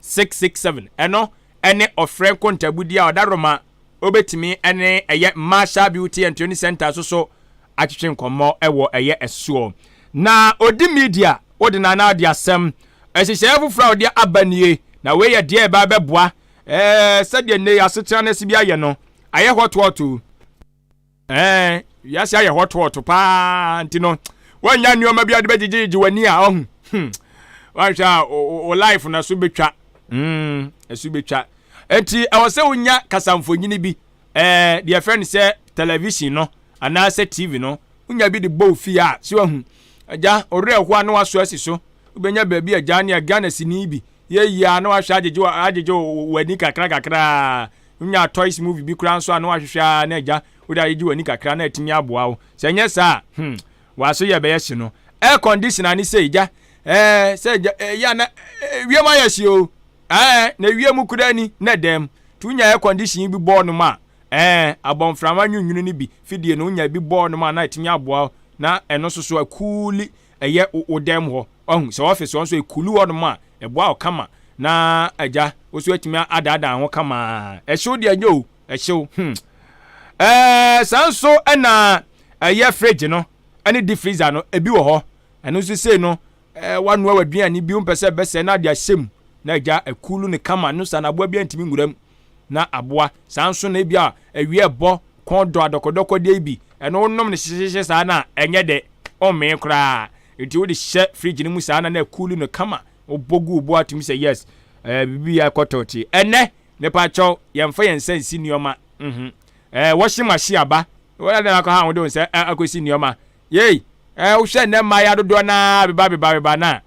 six six seven ɛno ɛne ɔfrɛ nkontaabudie a ɔda roma obetumi ɛne ɛyɛ marshal beauty and training center so so atwetwe nkɔmmɔ ɛwɔ ɛyɛ ɛsoɔ na odi media odi na na ɔde asɛm ɛhyehyɛɛ foforɔ a ɔde aba nie na wei yɛ deɛ ɛba ɛbɛboa ɛɛ sɛdeɛ nnɛ yɛ asetena no asi bi ayɛ no ayɛ hɔtoɔto Ɛɛ, wiase ayɛ hɔtohɔto paa nti no, woannya nneɛma bi a wode bɛgyegyegye w'ani a ɔho. Hmm. Woanhwɛ a wo life no ɛso bɛtwa. Hmm, ɛso bɛtwa. Enti ɛwɔ sɛ wonya kasamfonyini bi, ɛɛ, deɛ ɛfɛ no sɛ television no anaasɛ TV no, wonya bi de bɔ wo fie a, so ahu. Agya, ɔwerɛ ɛho a na waso asi so. Wobɛnya baabi agya ne Ghana sini bi yɛ yie a na wahwɛ agyegye w'ani kakra kakra. Wonyaa toys movie bi koraa nso a na woahwehwɛ ara na agya wode agyegye w'ani kakra na atumi aboa wo. Sɛ ɛnyɛ saa a, hmm, w'aso yɛ bɛyɛ hye no. Air conditioner ne sei, gya, eh, sɛ agya, ɛyɛ a na eh, wiem ayɛ hye o, eh, na wiem koraa ni, na ɛdɛm. Nti wonya air condition yi bi bɔɔ nom a, eh, abɔmframa nwunwunu no bi, fidie no, wonya bi bɔɔ nom a na atumi aboa wo na ɛno nso so akuuli ɛyɛ wo dan mu hɔ, wahu, sɛ office hɔ nso ɛkulu hɔ nom a, ɛboa wo kama, na agya wo nso atumi adaadaa ho kama, ɛhyew deɛ nyɛ o, ɛhyew hmm ɛɛ saa nso ɛna ɛyɛ fridge no ɛne deep freezer no, ɛbi wɔ hɔ, ɛno nso sei no ɛɛ wanoa w'aduane bi, wompɛ sɛ ɛbɛsɛ na ade ahyɛ mu, na agya ɛkulu ne kama, ɛno saa no aboa bi antumi nwura mu, na aboa. Saa nso na ebia awi ɛbɔ kɔn dɔ adɔkɔdɔkɔdeɛ yi bi, ɛno wonom no hyehyehyehye saa no a, ɛnyɛ dɛ, wommee koraa. Nti wode hyɛ fridge no mu saa na na ɛkuuli no kama, wobɔ gu wo bo atom sɛ yes, ɛɛ biribi akɔ tɔɔtee. Ɛnnɛ, mepakyɛw, yɛmfa yɛn nsa nsi nneɛma, mhm, ɛɛ washing machine aba, wode ade na akɔha wo de wo nsa akɔsi nneɛma, yei, ɛɛ wohwɛ nnɛ mmayewa dodoɔ no ara beba beba beba no a,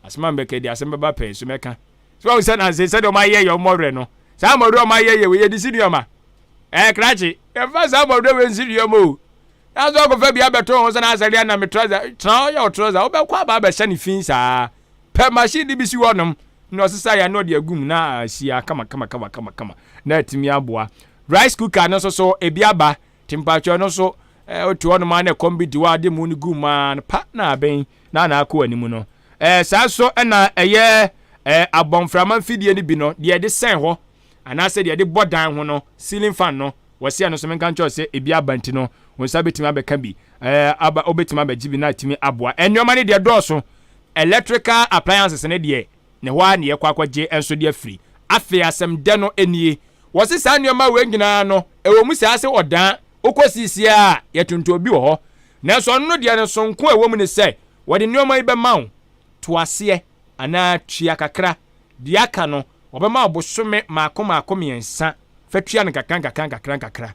asɛm a mebɛka yi deɛ asɛm bɛba pɛn so mɛka, So wahu sɛ nanse sɛdeɛ wɔayɛ yɛ mmɔwerɛ no, saa mmɔwerɛ a wɔayɛ yɛ wei, yɛde si nneɛma. Ɛɛ, krakye, yɛmfa saa mmɔwerɛ wei nsi nneɛma o. Nanso akɔfa bi abɛto ho sɛ na asɛdeɛ na me trɔsa, tra ɔyɛ wo trɔsa, wobɛkɔ aba abɛhyɛ ne fi saa. Pɛ machine de bi si hɔnom na ɔsesa yɛ na ɔde agu mu na ahyia kama kama kama kama kama na atumi aboa. Rice cooker no nso so ebi aba Te mpakyɛw ɛno nso eh, wote hɔnom a na ɛkɔm bi de wo a de mu no gu maa no pa na abɛn na na akɔ anim no. Eh, saa nso na ɛyɛ eh, abɔmframa mfidie no bi no, deɛ ɛde sɛn hɔ anaasɛ deɛ ɛde bɔ dan ho no, ceiling fan no, wɔse ɛno nso menka nkyɛw sɛ ebi aba nti no wo nsa bɛtumi abɛka bi, eh, aba, wobɛtumi abɛgye bi na atumi aboa. Nneɛma no deɛ dɔɔso, electrical appliances no deɛ Na ɛhɔ ara na yɛkɔ akɔgye nso de afiri. Afei asɛm dɛ no nie, wɔse saa nneɛma wei nyinaa no, ɛwɔ mu saa sɛ ɔdaa, wokɔ seesei a, yɛtontɔn bi wɔ hɔ, nanso ɔno no deɛ no sononko a ɛwɔ mu ne sɛ, wɔde nneɛma yi bɛma wo, to aseɛ anaa tua kakra, deɛ aka no, wɔbɛma wo bosome mmaako mmaako mmiɛnsa, fa tua no nkakrankakra nkakrankakra.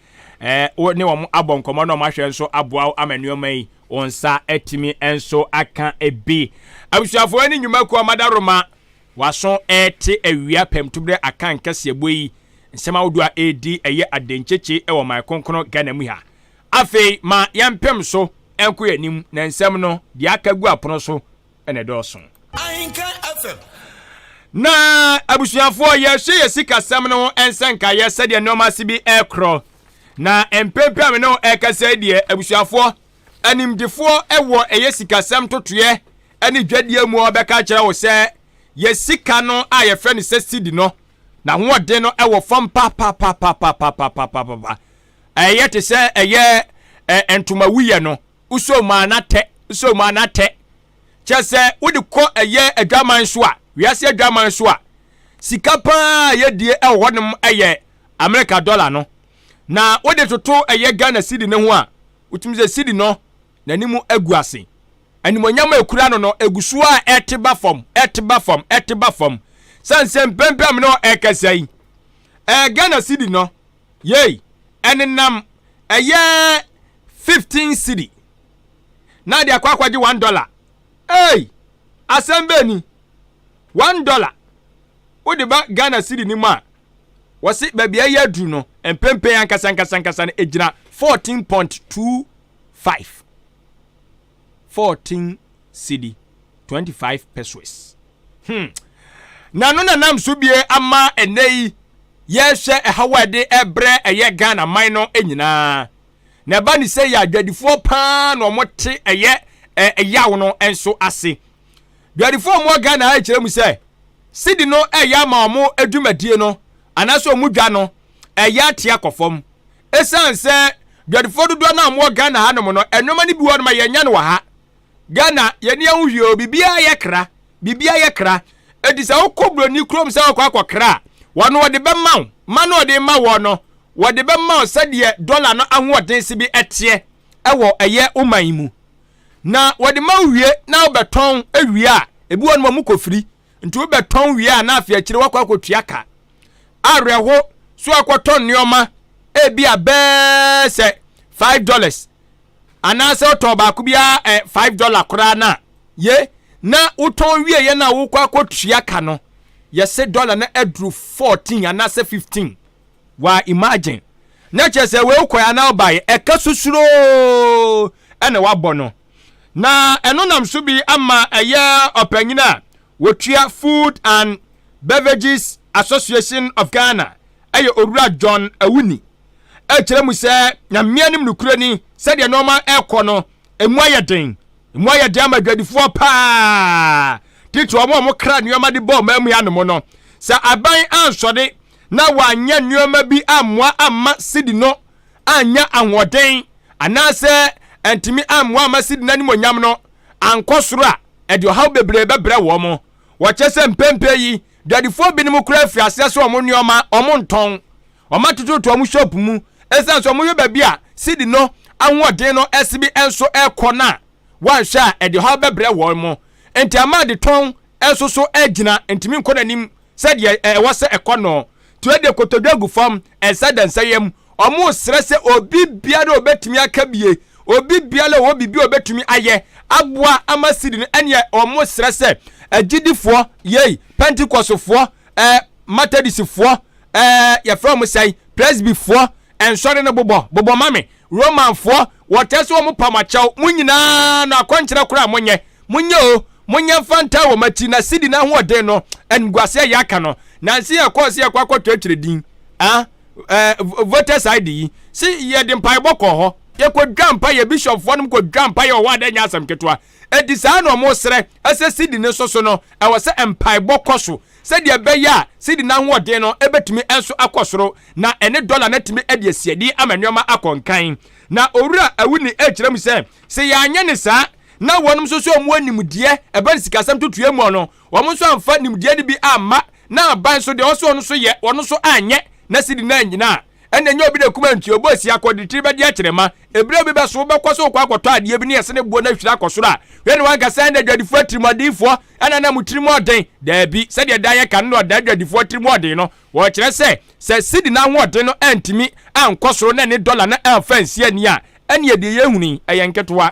wo ne wɔn abɔ nkɔmmɔ na wɔn ahwɛ nso aboa wo ama nneɛma yi wɔn nsa atumi nso aka bi. Abusuafoɔ ne nnwuma kuo amada roma waso ɛrete awia pɛmtuberɛ aka nkɛseɛbɔ yi nsɛm ahodoɔ a ɛredi ɛyɛ adenkyekye wɔ man kronkron Ghana mu ha. Afei ma yɛmpem so nko yɛn anim na nsɛm no deɛ aka gu apono so na ɛdɔɔso. Ahenka FM. Na abusuafoɔ, yɛhwɛ yɛ sikasɛm no ho nsɛ nkaeɛ sɛdeɛ nneɛma ase bi rekorɔ. Na mpempem a me ne wo ɛrekasa yi deɛ, abusuafoɔ, animdefoɔ wɔ ɛyɛ sikasɛm totoeɛ ne dwadie mu a wɔbɛka akyerɛ wo sɛ yɛ sika no a yɛfrɛ no sɛ sidi no, n'ahoɔden no wɔ fam papapapapapapapapa. Ɛyɛ te sɛ ɛyɛ ntoma wuyɛ no. wosɔ mu a na tɛ wosɔ mu a na tɛ kyɛ sɛ wode kɔ ɛyɛ adwaman so a wiase adwaman so a sika paa yɛdie ɛwɔ hɔnom ɛyɛ amerika dɔla no na wode toto ɛyɛ ghana sidi no ho a wotumi sɛ sidi no n'anim agu ase animonyam a ekura no no egu so a ɛte ba fam ɛte ba fam ɛte ba fam sɛnsɛn pɛmpɛm no ɛkɛsɛ yi ɛɛ ghana sidi no Yei ɛnenam ɛyɛ fifteen cedi na de akɔ akɔgye one dollar ei asɛm bɛɛ ni one dollar wode ba Ghana cedi no mu a wɔse baabi a ɛyɛ aduru no mpempen ankasa ankasa ankasa no ɛgyina fourteen point two five. fourteen cedi, twenty five pesoes. Hmm. Na ɛno na nam so bie ama ɛnɛ yi yɛhwɛ ɛhaw a ɛde ɛbrɛ ɛyɛ Ghana man no nyinaa. Na ɛba ne sɛ yɛ adwadifoɔ paa na wɔn te ɛyɛ ɛyaw no nso ase. Dwadifoɔ a wɔn Ghana ayɛ kyerɛ mu sɛ sidi no ɛyɛ ama wɔn adwumadie no anaasɛ wɔn dwa no ɛyɛ atea kɔ fam. Ɛsiane sɛ dwadifoɔ dodoɔ no a wɔwɔ Ghana hanom no, nneɛma no bi wɔ no ma yɛnyɛ no wɔ ha. Ghana, yɛni ɛho hwie o, biribiara yɛ kra, biribiara yɛ kra. Enti sɛ wokɔ buroni kurom sɛ wokɔ akɔ kra a, wɔno wɔde bɛma wo, ma no wɔde ma wɔ no, wɔde bɛma wo sɛdeɛ dɔla no ahoɔden si bi ɛteɛ ɛwɔ ɛyɛ wo man mu. Na wɔde ma wo wie na wobɛtɔn wie a, ebi wɔ no ma mu kɔfiri. Nti wobɛtɔn wie a na afei akyire wakɔ akɔtua ka. Awerɛho so akɔtɔ nneɛma ebi a bɛɛ sɛ five dollars anaasɛ wotɔn baako biara ɛ five dollar koraa no a ye na wotɔn wie yɛ na wokɔ akɔtua ka no yɛse dollar na aduru fourteen anaasɛ fifteen wa imagine na kyerɛ sɛ wei wokɔɛ anaa wobaeɛ ɛka susuroo ɛna wabɔ no na ɛno nam so bi ama ɛyɛ ɔpanyin a wɔtua Food and Beverages Association of Ghana ɛyɛ Owura John Awuni ɛkyerɛ mu sɛ nyameɛ nim nokorɛ ni sɛdeɛ nneɛma ɛkɔ no ɛmu ayɛ den ɛmu ayɛ den ama adwadifoɔ paa titi wɔn a wɔn kra nneɛma de bɔ ɔman mu anom no sɛ aban ansɔre na wɔanyɛ nneɛma bi ammoa amma sidi no annya ahoɔden anaasɛ antumi ammoa amma Sydney n'animuonyam no ankɔ soro a, ɛde ɔhaw bebree bɛbrɛ wɔn. Wɔkyerɛ sɛ mprempren yi, dwadifoɔ binom koraa afi aseɛ sɛ wɔn nneɛma wɔntɔn. Wɔatoto ato wɔn shop mu. Esiane sɛ wɔhwɛ baabi a Sydney no ahoɔden no sebe nso rekɔ no a, wɔanhwɛ a, ɛde ɔhaw bɛbrɛ wɔn. Enti ama adetɔn nso so agyina, ɛntumi nkɔ n'anim sɛdeɛ ɛwɔ sɛ ɛkɔ no. Tuo de kotodwe gu fam. Ɛnsa adansɛeɛ mu, wɔresrɛ sɛ obi biara a ɔbɛtumi aka bie, obi biara a ɔwɔ biribi a ɔbɛtumi ayɛ aboa ama sidi no, ɛneɛ wɔresrɛ sɛ agyidifoɔ, yei, Pentecostefoɔ, eh, Methodistfoɔ, eh, yɛfrɛ wɔn sɛn, Presbyfoɔ, nsɔre no bobɔ, bobɔ ma me, Romanfoɔ, wɔtaa se wɔn pam akyɛw, mo nyinaa no akɔnkyerɛ koro a monyɛ, monyɛ o, monyɛ mfa ntaa wɔn akyi, na sidi n'ahoɔden no, animguase a yɛaka no, nanse yɛkɔɔ se yɛkɔ akɔtwerɛtwerɛ din, ah, eh, voters ID yi, se yɛde mpaebɔ kɔɔ hɔ, yɛkɔdwaa mpaeɛ, bishopfoɔ nom kɔdwaa mpaeɛ wɔ hɔ a na ɛnyɛ asɛm ketewa. Enti saa na wɔsrɛ sɛ sidi no nso so no, ɛwɔ sɛ mpaebɔ kɔ so sɛdeɛ ɛbɛyɛ a sidi no ahoɔden no bɛtumi nso akɔ soro na ɛne dɔla no atumi de asi adi ama nneɛma akɔ nkan. Na Owura Awuni kyerɛ mu sɛ, sɛ yɛanyɛ no saa na wɔnom nso so a wɔwɔ nimdeɛ ɛba no sikasɛm totoeɛ mu no, wɔn nso amfa nimdeɛ no bi amma na aban nso deɛ ɛwɔ sɛ wɔn nso yɛ wɔn nso anyɛ na sidi no annyina a, ɛna ɛnyɛ obi na kuma nti obi osi akɔ de tiri bɛde akyerɛ ma ebire bi bɛso wobɛkɔ so kɔ akɔtɔ adeɛ bi ne ɛsene boɔ no ahwiri akɔ soro a wei ne wanka sɛ ɛna adwadifoɔ atirimuɔdenfoɔ ɛna na mo tirimu ɔden daabi sɛdeɛ da yɛka no na ɔda adwadifoɔ tirimu ɔden no wɔkyerɛ sɛ sɛ sidi no ahoɔden no antumi ankɔ soro na ne dɔla no amfa ansi ani a ɛne ɛdeɛ yɛhuni ɛyɛ nketewa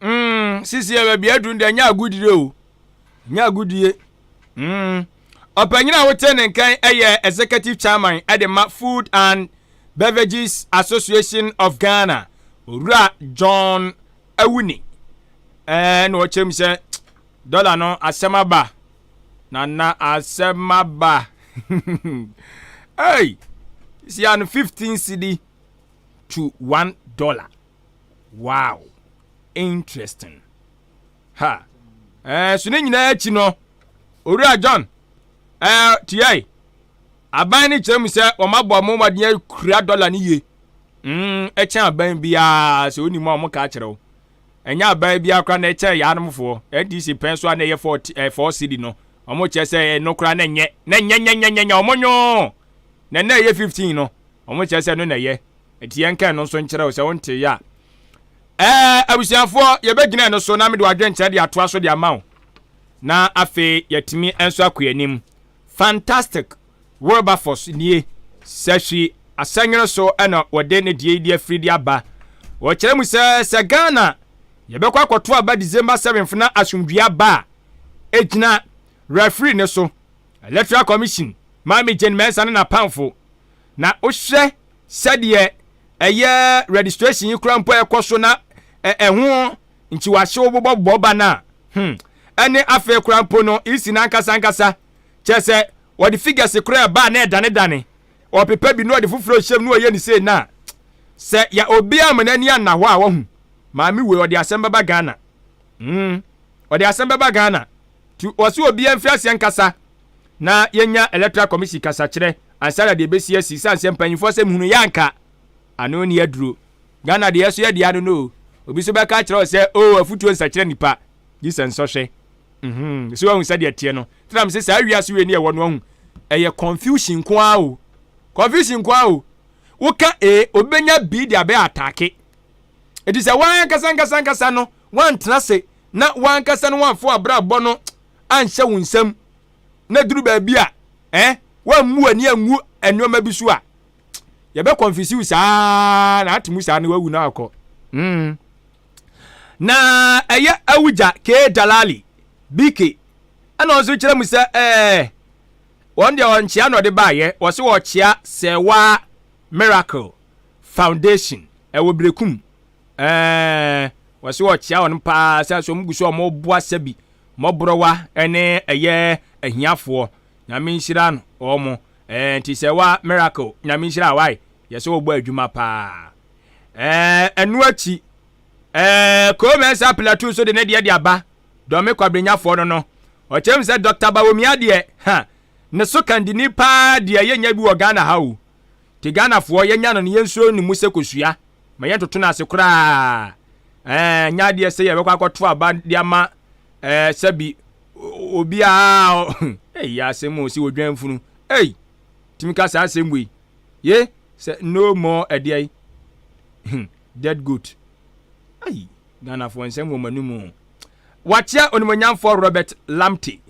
Mm, sisi yɛ baabi aduru deɛ nyɛ agodie o. Nyɛ agodie. Mm. Ɔpanyin a wote ne nkan yɛ executive chairman de ma Food and Beverages Association of Ghana, Owura John Awuni. Ɛɛ na ɔkyerɛ mu sɛ dɔla no asɛm aba. Na na asɛm aba. Hey! Sisi ano 15 cedi to 1 dollar. Wow! Interesting! Ha! Ɛɛ, so ne nyinaa akyi no, Owura John ɛɛ tuae. Aban no kyerɛ mu sɛ wɔn abɔ wɔn mmɔden akura dɔla no yie. Mm, ɛkyɛn aban biara sɛ wonim a wɔn ka akyerɛ wo. Ɛnyɛ aban biara koraa na ɛkyɛn yaanomfoɔ. NDC pɛn so a na ɛyɛ fɔɔ ɛɛ fɔɔ sidi no. Wɔn kyerɛ sɛ ɛno koraa na nyɛ na nyɛ nyɛ nyɛ nyɛ nyɛ wɔn nyɔɔ. Na na ɛyɛ fifteen no. Wɔn kyerɛ sɛ ɛno na ɛyɛ. Enti yɛnka ɛno nso nkyerɛ wo sɛ wonteeɛ a. Ɛɛ abusuafoɔ, yɛbɛgyina ɛno so na mede w'adwenkyerɛ de atoa so de ama wo. Na afei yɛatumi nso akɔ yɛn anim. Fantastic Wilberforce nie. Sahwi Asɛnwere so na wɔde ne deɛ yi de afiri de aba. Wɔkyerɛ mu sɛ sɛ Ghana yɛbɛkɔ akɔto aba December 7th na asomdwie aba a, ɛgyina referee no so. Electoral Commission, Maame Jane Mensah ne n'apamfo. na wohwɛ sɛdeɛ ɛyɛ registration yi kora mpo ɛkɔ so na ɛho nkyiwahyew bobɔbobɔ ba no a hmm ɛne afei kora mpo no isi no ankasa ankasa kyerɛ sɛ wɔde figures kora ɛba a na ɛdanedane ɔpepa bi na ɔde foforɔ hyɛm na ɔyɛ ne sei no a sɛ yɛ obiara ma n'ani anna hɔ a wahu maame wei ɔde asɛm bɛba Ghana mm ɔde asɛm bɛba Ghana nti wɔse obiara mfiri aseɛ nkasa na yɛnya electoral commission kasakyerɛ ansa na deɛ ɛbɛsi asi sane sɛ mpanyimfoɔ sɛ mehunu yɛ anka ano ne aduro Ghana deɛ ɛso yɛ deɛ ano no obi so bɛka akyerɛ wo sɛ o oh, afutuo nsakyerɛ nipa gye sɛ nsɔhwɛ mhm so ahu sɛdeɛ teɛ no tenam sɛ saa wiase wei ne ɛwɔ no ahu ɛyɛ confusion nko ara o confusion nko ara o woka e obi bɛnya bi de abɛ atake ɛti sɛ woankasa nkasa nkasa no woantena se na w'ankasa no w'amfa w'abrabɔ no anhyɛ wo nsam na duru baabi a eh, w'ammu w'ani angu nneɛma bi so a yɛbɛ kɔnfisi wo saa na ate mu saa na wawu na akɔ mm. na ɛyɛ awugya kee dalali bike ɛna ɔnso kyerɛ mu sɛ eh, wɔn deɛ ɔnkyea na ɔde baayɛ wɔse wɔkyea sɛ waa miracle foundation ɛwɔ berekum Ɛɛ, wɔsi ɔkyea wɔn paa sɛ sɛ wɔn gu so wɔn boa sɛbi mmɔborɔwa ɛne ɛyɛ ahiafoɔ nyame nhyira no wɔn ɛɛ nti sɛ wa miracle nyame nhyira wae yɛ sɛ wɔbɔ adwuma paa ɛɛ ɛnu akyi ɛɛ kɔmɛnsa plateau so de ne deɛ de aba dɔme kwabrɛnyafoɔ no no ɔkyɛm sɛ dɔkta bawomia deɛ ha ne so kandini paa deɛ yɛ nya bi wɔ ghana ha o Te Ghanafoɔ yɛnya no no yɛnsuro ne mu sɛ kosua ma yɛntoto no ase koraa ɛɛ nyɛ adeɛ sɛ yɛbɛkɔ akɔto aba de ama ɛɛ sɛbi obiara ɛyi asɛm o sɛ odwan funu ɛyi tumi ka saa asɛm wei ye sɛ no more ɛdeɛ yi hmm, dead goat ayi Ghanafoɔ nsɛm wɔ mo anim o wakyɛ onimonyamfoɔ Robert Lamptey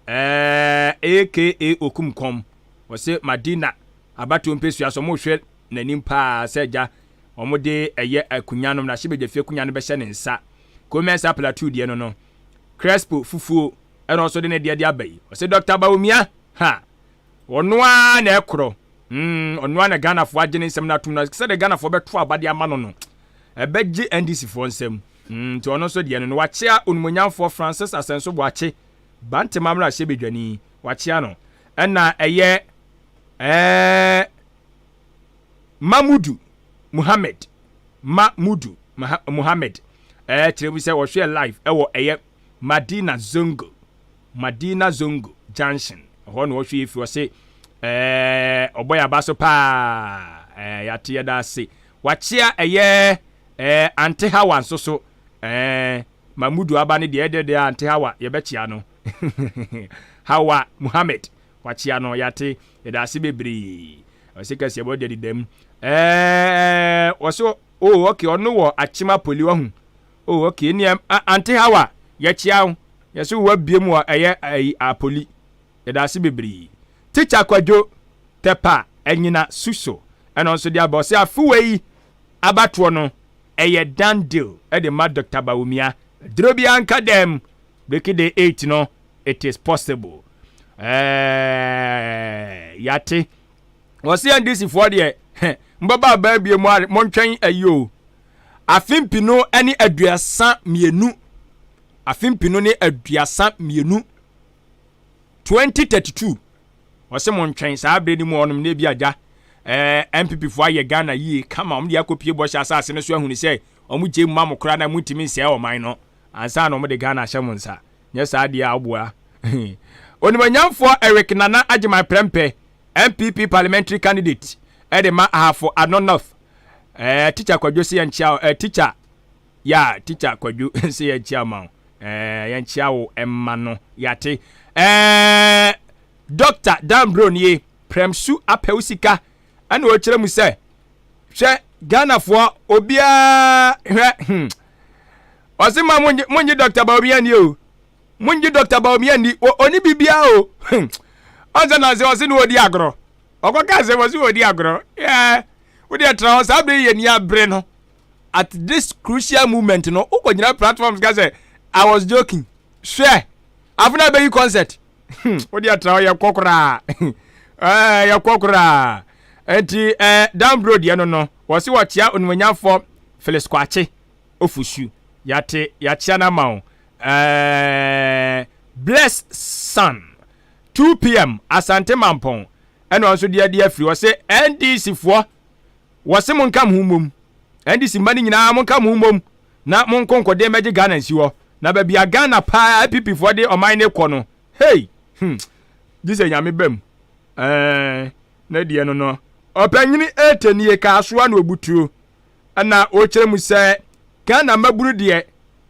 Ɛɛɛɛ aka okum kɔm ɔse madina abatoɔ mpesua so ɔmo hwɛ nanim paa sɛ agya ɔmo de ɛyɛ akunya nom na hye bɛgya fie akunya no bɛhyɛ ne nsa ko mɛnsa plateau deɛ no no crespo fufuo ɛna ɔso de ne deɛ de aba yi ɔse Doctor Bawumia ha ɔno aa na ɛkorɔ mm ɔno aa na Ghana foɔ agye ne nsɛm no atom na sɛdeɛ Ghana foɔ bɛto aba de ama no no ɛbɛgye NDC foɔ nsɛm. Nti ɔno nso deɛ no no wakyea Onumuonyamfoɔ Francis Asɛnso Boakye, Bantema mmarahyɛbedwani, wakyea no. Ɛna ɛyɛ ɛɛɛ Mamudu Muhammed, Ma Mudu Muhammed, ɛɛ kyerɛ mu sɛ wɔhwɛɛ live ɛwɔ ɛyɛ Madina Zongo, Madina Zongo Junction, ɛhɔ na wɔhwɛɛ firi ɔse ɛɛɛ ɔbɔ yɛn aba so paa, ɛɛ yɛate yɛda ase. Wakyea ɛyɛ Ɛɛ Aunty Hawa nso so ɛɛ Mahmudu aba no deɛ ɛdɛ deɛ Aunty Hawa yɛbɛkyea no Hawa Muhammad wakyea no yɛate yɛdaase bebree ɔse kɛseɛ bɔ daddy dam ɛɛ ɔse oh okay ɔno wɔ akyem apoli wahu oh okay ɛneɛ Aunty Hawa yɛkyea wo yɛse wo wabiem wɔ ɛyɛ apoli Yɛda ase bebree Teacher Kwadwo Tɛpa anyina su so ɛno nso de aba ɔse afe wei abatoɔ no ɛyɛ done deal de ma Doctor Bawumia duro biara nka dɛm Breaky Day eight no it is possible ɛɛɛɛɛɛɛɛɛɛ yate ɔse NDC foɔ deɛ heh mobɛba abaa bie mo are montwɛn ayi o afe mpino ne aduasa mmienu afe mpino ne aduasa mmienu twenty thirty two ɔsɛ mo ntwɛn saa abere no mu ɔnom na ebi agya ɛɛ npp fo ayɛ ghana yie kama wɔn de akɔpie bɔhyɛ asase no so ahuni sɛ wɔn gye mu ma mo koraa na mo ntumi nsɛɛ ɔman no ansa na wɔn de ghana ahyɛ mo nsa nyɛ saa deɛ a ɔboa onimonyamfoɔ eric nana agyeman prɛmpɛ npp parliamentary candidate ɛde ma ahafo ano north ɛɛ tikya kwadwo se yɛn kyia ɛɛ tikya Yeah teacher kwadwo se yɛnkyea mma wo eh yɛnkyea wo mma no yɛate eh Doctor Dan Brown ye prɛm su apɛ wo sika ɛna ɔkyerɛ mu sɛ hwɛ Ghana foɔ obiara hwɛ hmm ɔse ma monye monye Doctor Bawumia ni o monye Doctor Bawumia ni o oni bibia o hmm ɔnse na ɔse ɔse na ɔdi agorɔ ɔkɔ ka sɛ ɔse ɔdi agorɔ yeah wode ɛtra hɔ saa bere yɛ ni abere no at this crucial moment no wokɔ gyina platforms ka sɛ i was joking hwɛ afei na bɛyi concert hmm, wode atra hɔ yɛkɔ koraa eh, yɛkɔ koraa nti eh, down road yɛ no no wɔ se wɔkyea onimonyamfoɔ phyllis kwakye ofusu yɛate yɛakyea no ama wo eh, bless sun 2 pm asante mampɔn ɛna ɔnso deɛ deɛ afiri wɔ se ndc foɔ Wɔse monka mo ho mmom, NDC mma no nyinaa monka mo ho mmom na monko nkodeɛ mmɛgye Ghana nsi hɔ, na baabi a Ghana paa NPP foɔ de ɔman no rekɔ no hey hmm gyesɛ Nyame ba mu eeh ne deɛ no no. Ɔpanyini Ete nie kaa soa no obutuo ɛna ɔkyerɛ mu sɛ Ghana mmabunu deɛ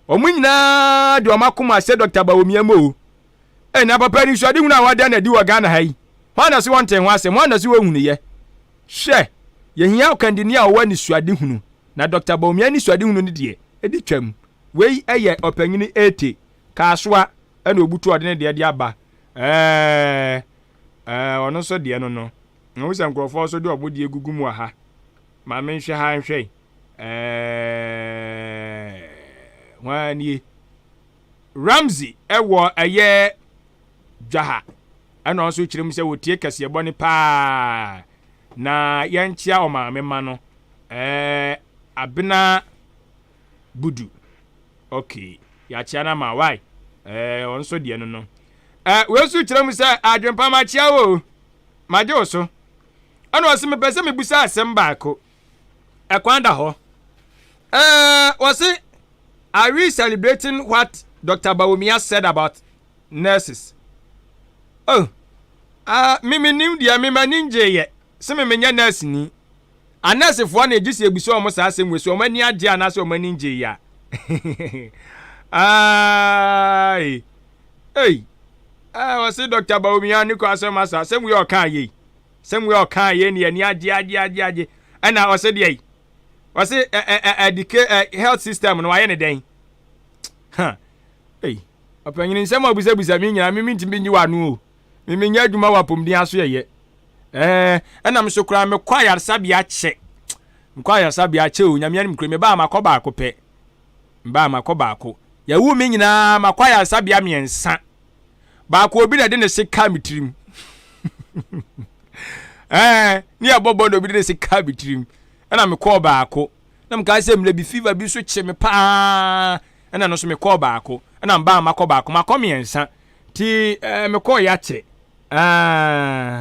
wɔn nyinaa de wɔn akoma ahyɛ Doctor Bawumia mu o. Ɛnna papa anisoadehunu a wɔada no adi wɔ Ghana ha yi, hwan na se wɔntee ho asɛm? Hwan na se wɔnhunuiɛ? Hwɛ! Yɛhia ɔkandini a ɔwɔ anisoadehunu, na Dɔkta Bawumia anisoadehunu no deɛ, ɛdi twam. Wei yɛ Ɔpanyini Ete Kasoa na ɔbutu a ɔde ne deɛ de aba. Ɛɛɛɛɛ! Ɛɛɛɛɛ! Ɔno nso deɛ no no, mahu sɛ nkurɔfoɔ nso de wɔn deɛ gugu mu wɔ ha. Ma menhwɛ ha nhwɛ. Ɛɛɛɛɛɛ! Hwan nie? Ramsey wɔ ɛyɛ dwaha ɛna ɔno nso kyerɛ mu sɛ wɔtie kɛseɛ bɔne paa na yɛnkyea ɔmaame mma no eh, abena budu ok yɛakyea no ama why eh, ɔno nso deɛ no no eh, wei nso kyerɛ mu sɛ adwempa makyea wo magye wo so ɛna ɔse mepɛ sɛ mebusa asɛm baako ɛkwan da hɔ ɛɛ wɔsi are we celebrating what dr bawumia said about nurses oh ah mi mi nim deɛ mi ma ni ngye yɛ si mi mi nyɛ nurse ni anursefoɔ na egye si ebisa wɔn saa asɛm wɔ si wɔn ani agye anaasɛ wɔn ani ngye yɛ aai ei ɛɛ wɔsi dr bawumia ne kɔ asɛm asa asɛm wei ɔka ayɛ yi. Samuel kaa yei ne ani agye agye agye agye ɛna ɔsɛ deɛ yi ɔsɛ ɛ ɛ ɛ ɛdike ɛ health system no wayɛ ne dɛn ha ei ɔpanyin nsɛm a ɔbisabisa mi nyinaa mi mi ntumi nyi w'ano o mi mi nyɛ adwuma wɔ apɔmuden aso yɛ yɛ ɛɛ ɛna mi so koraa mekɔ ayaresabea kyɛ mekɔ ayaresabea kyɛ o nyamea nim kura mi baa makɔ baako pɛ mbaa makɔ baako yɛwu mi nyinaa makɔ ayaresabea mmiɛnsa. baako obi na ɛde ne se kaa me tirim ɛɛ ne yɛ bɔbɔ na obi de ne se kaa me tirim ɛna me kɔɔ baako na me kaa sɛ mmerɛ bi fever bi nso kye me paa ɛna no nso me kɔɔ baako ɛna mbaa ma kɔ baako ma kɔ mmiɛnsa ti ɛɛ me kɔɔ yakyɛ ɛɛ.